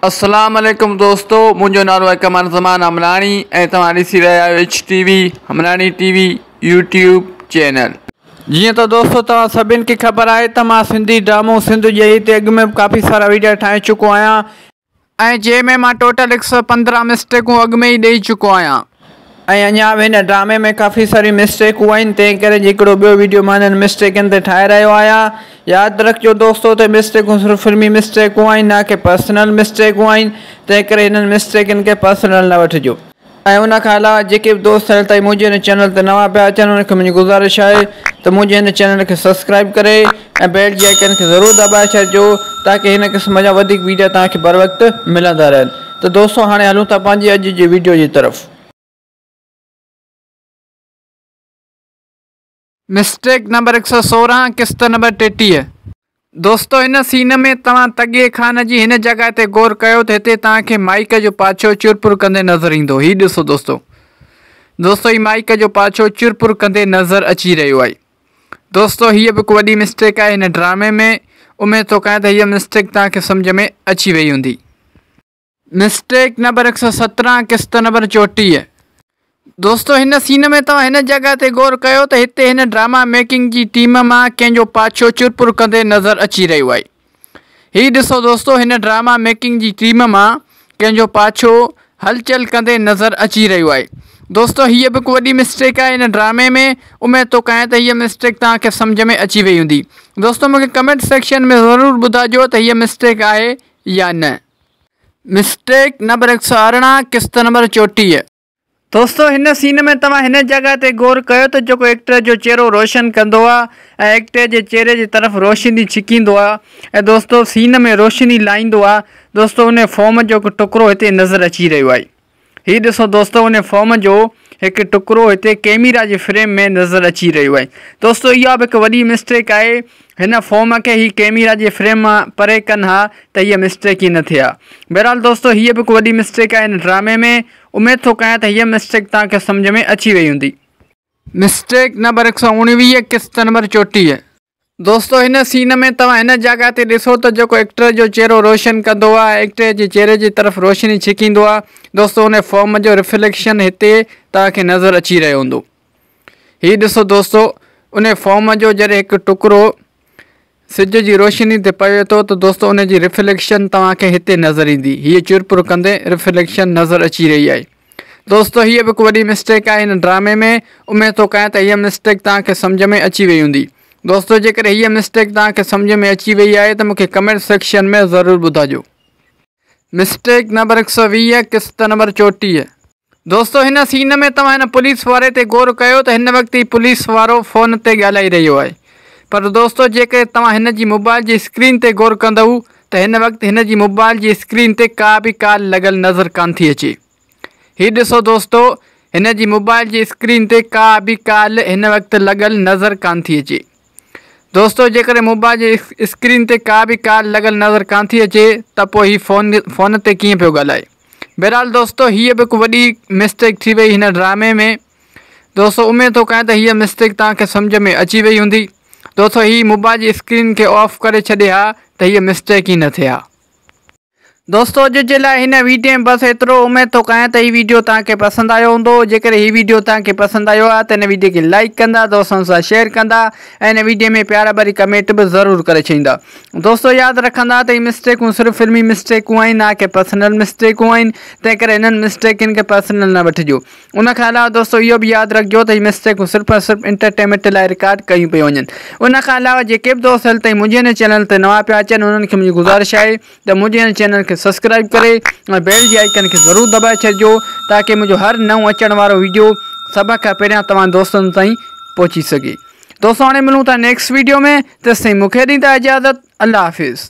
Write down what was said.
اسلام عليڪم دوستو منهنجو نالو آهي قمر زمان همراڻي ۽ توهان ڏسي رهيا آهيو H T V Hamrani T V YouTube channel جيئن ته دوستو توهان سڀين کي خبر آهي ته مان سنڌي ڊرامو سنڌ ڄهي تي اڳ ۾ ڪافي سارا ويڊيا ٺاهي چڪو آهيان ۽ جنهن ۾ مان ٽوٽل هڪ سؤ پندرهن مسٽيڪون اڳ ۾ ئي ڏئي چڪو آهيان. ۽ اڃا به هن ڊرامي ۾ ڪافي ساريون مسٽيڪون آهن تنهن ڪري جي هڪڙو ٻيو ويڊيو مان انهن مسٽيڪن تي ٺاهي رهيو آهيان ياد رکجو دوستو ته مسٽيڪون صرف فلمي مسٽيڪون آهن نه ڪي پرسنل مسٽيڪون آهن تنهن ڪري هنن مسٽيڪن کي پرسنل نه وٺجو. ۽ ان کان علاوه جيڪي به دوست هيل تائين منهنجي هن چينل تي نوان پيا اچن انهن کي منهنجي گذارش آهي ته منهنجي هن چينل کي سبسڪرائيب ڪري ۽ بيلٽ جي آئيڪن کي ضرور دٻائي ڇڏجو تاڪه هن قسم جا وڌيڪ ويڊيا توهان کي بروقت ملندا رهن ته دوستو هاڻي هلون ٿا پنهنجي اڄ جي ويڊيو جي طرف. مسٽيڪ نمبر هڪ سؤ سورهن قسط نمبر ٽيٽيهه. دوستو هن سين ۾ توهان تڳي خان جي هن جڳهه تي غور ڪيو ته هتي توهان کي مائيڪ جو پاڇو چر پور ڪندي نظر ايندو هي ڏسو دوستو دوستو هي مائيڪ جو پاڇو چر پور ڪندي نظر اچي رهيو آهي دوستو هيء به هڪ وڏي مسٽيڪ آهي هن ڊرامي ۾ اميد ٿو ڪيان ته هيء مسٽيڪ توهان کي سمجهه ۾ اچي وئي هوندي. مسٽيڪ نمبر هڪ سؤ سترهن قسط نمبر چوٽيهه. دوستو هن سين ۾ توهان هن جڳهه تي غور ڪيو ته هتي هن ڊراما ميڪنگ جي ٽيم مان ڪنهن جو پاڇو چرپر ڪندي نظر اچي رهيو آهي. هي ڏسو دوستو هن ڊراما ميڪنگ جي ٽيم مان ڪنهن جو پاڇو هلچل ڪندي نظر اچي رهيو آهي دوستو هيء به هڪ وڏي مسٽيڪ آهي هن ڊرامي ۾ اميد ٿو ڪيان ته هيء مسٽيڪ توهان کي سمجهه ۾ اچي وئي هوندي دوستو مون کي ڪمينٽ سيڪشن ۾ ضرور ٻڌائجو ته هيء مسٽيڪ آهي يا نه مسٽيڪ نمبر هڪ سو ارڙهن قسط نمبر چوٽيهه. دوستو هن سين ۾ توهان هن جڳهه تي غور ڪيو ته جيڪو ايڪٽر جو چهرو روشن ڪندو آ ۽ ايڪٽر جي چهري جي طرف روشني ڇڪيندو آ ۽ دوستو سين ۾ روشني لائيندو آ دوستو انهي فوم جو هڪ ٽڪرو هتي نظر اچي رهيو آهي هي ڏسو دوستو انهي فوم جو هڪ ٽڪرو هتي ڪيميرا جي فريم ۾ نظر اچي رهيو آهي دوستو اها به هڪ وڏي مسٽيڪ آهي هن فوم کي هي ڪيميرا جي فريم مان پري ڪن ها ته هيء مسٽيڪ ئي نه ٿئي ها. بهرحال دوستو هيء به هڪ وڏي مسٽيڪ آهي هن ڊرامي ۾. اميد ٿو ڪيان ته هيء مسٽيڪ توهان کي سمجهه ۾ اچي وئي هوندي. مسٽيڪ نمبر هڪ سؤ اڻويهه قسط نمبر چوٽيهه. دوستو هن سين ۾ توهان هن جاڳا تي ڏسو ته جيڪو ايڪٽر جو چهرو روشن ڪندو آهي ايڪٽر جي چهري جي طرف روشني ڇڪيندو آهي دوستو ان فوم جو رفليڪشن هتي توهان کي نظر اچي رهيو هوندو. هي ڏسو دوستو ان فوم جو جڏهن هڪ ٽڪرو سج جي روشني تي پوي ٿو ته دوستو ان جي رفليڪشن توهان کي هتي نظر ايندي هيء چرپر ڪندي رفليڪشن نظر اچي رهي آهي دوستو هيء به هڪ وڏي مسٽيڪ آهي هن ڊرامي ۾ اميد ٿو ڪيان ته هيء مسٽيڪ توهان کي سمجهه ۾ اچي وئي هوندي دوستو جيڪڏهن هيء مسٽيڪ توهان کي سمجهه ۾ اچي وئي آهي ته مون کي ڪمينٽ سيڪشن ۾ ضرور ٻڌاجو مسٽيڪ نمبر هڪ سؤ ويهه قسط نمبر چوٽيهه. دوستو هن سين ۾ توهان هن پوليس واري تي غور ڪيو ته هن وقت هي پوليس وارو فون تي ڳالهائي رهيو آهي پر دوستو جيڪڏهن توهان هن جي موبائل جي اسڪرين تي غور ڪندؤ ته هن وقت هن جي موبائل جي اسڪرين تي ڪا به ڪال لڳل نظر ڪانه ٿي اچي هي ڏسو دوستو هن جي موبائل جي اسڪرين تي ڪا به ڪال هن وقت لڳل نظر ڪان ٿي اچي دوستو جيڪڏهن موبائل جي اسڪرين تي ڪا به ڪال لڳل نظر ڪان ٿي اچي ته پوء هي فون فون تي ڪيئن پيو ڳالهائي بهرحال دوستو هيء به هڪ وڏي مسٽيڪ ٿي وئي هن ڊرامي ۾ دوستو اميد ٿو ڪيان ته هيء مسٽيڪ توهان کي سمجھ ۾ اچي وئي هوندي دوستو هي موبائل جي اسڪرين کي آف ڪري ڇڏي ها ته هيء مسٽيڪ ئي نه ٿئي ها دوستو اڄ جي لاء هن ويڊيو ۾ بس ايترو اميد ٿو ڪيان ته هي ويڊيو توهان کي پسند آيو هوندو جيڪڏهن هي ويڊيو توهان کي پسند آيو آهي ته هن ويڊيو کي لائيڪ ڪندا دوستن سان شيئر ڪندا ۽ هن ويڊيو ۾ پيار ڀري ڪمينٽ به ضرور ڪري ڇڏيندا دوستو ياد رکندا ته هي مسٽيڪون صرف فلمي مسٽيڪون آهن نه ڪي پرسنل مسٽيڪون آهن تنهن ڪري هنن مسٽيڪن کي پرسنل نه وٺجو ان کان علاوه دوستو اهو به ياد رکجو ته هي مسٽيڪون صرف ۽ صرف انٽرٽينمينٽ لاء رڪارڊ ڪيون پيون وڃن ان کان علاوه جيڪي به دوست هل تائين منهنجي هن چينل تي نوان پيا اچن انهن کي منهنجي گذارش آهي ته منهنجي هن چينل کي سبسڪرائب ڪري ۽ بيل جي آئيڪن کي ضرور دٻائي ڇڏجو تاڪي منهنجو هر نئون اچڻ وارو ويڊيو سڀ کان پهريان توهان دوستن تائين پهچي سگهي دوستو هاڻي ملون ٿا نيڪسٽ ويڊيو ۾ تيسين مونکي ڏيندا اجازت الله حافظ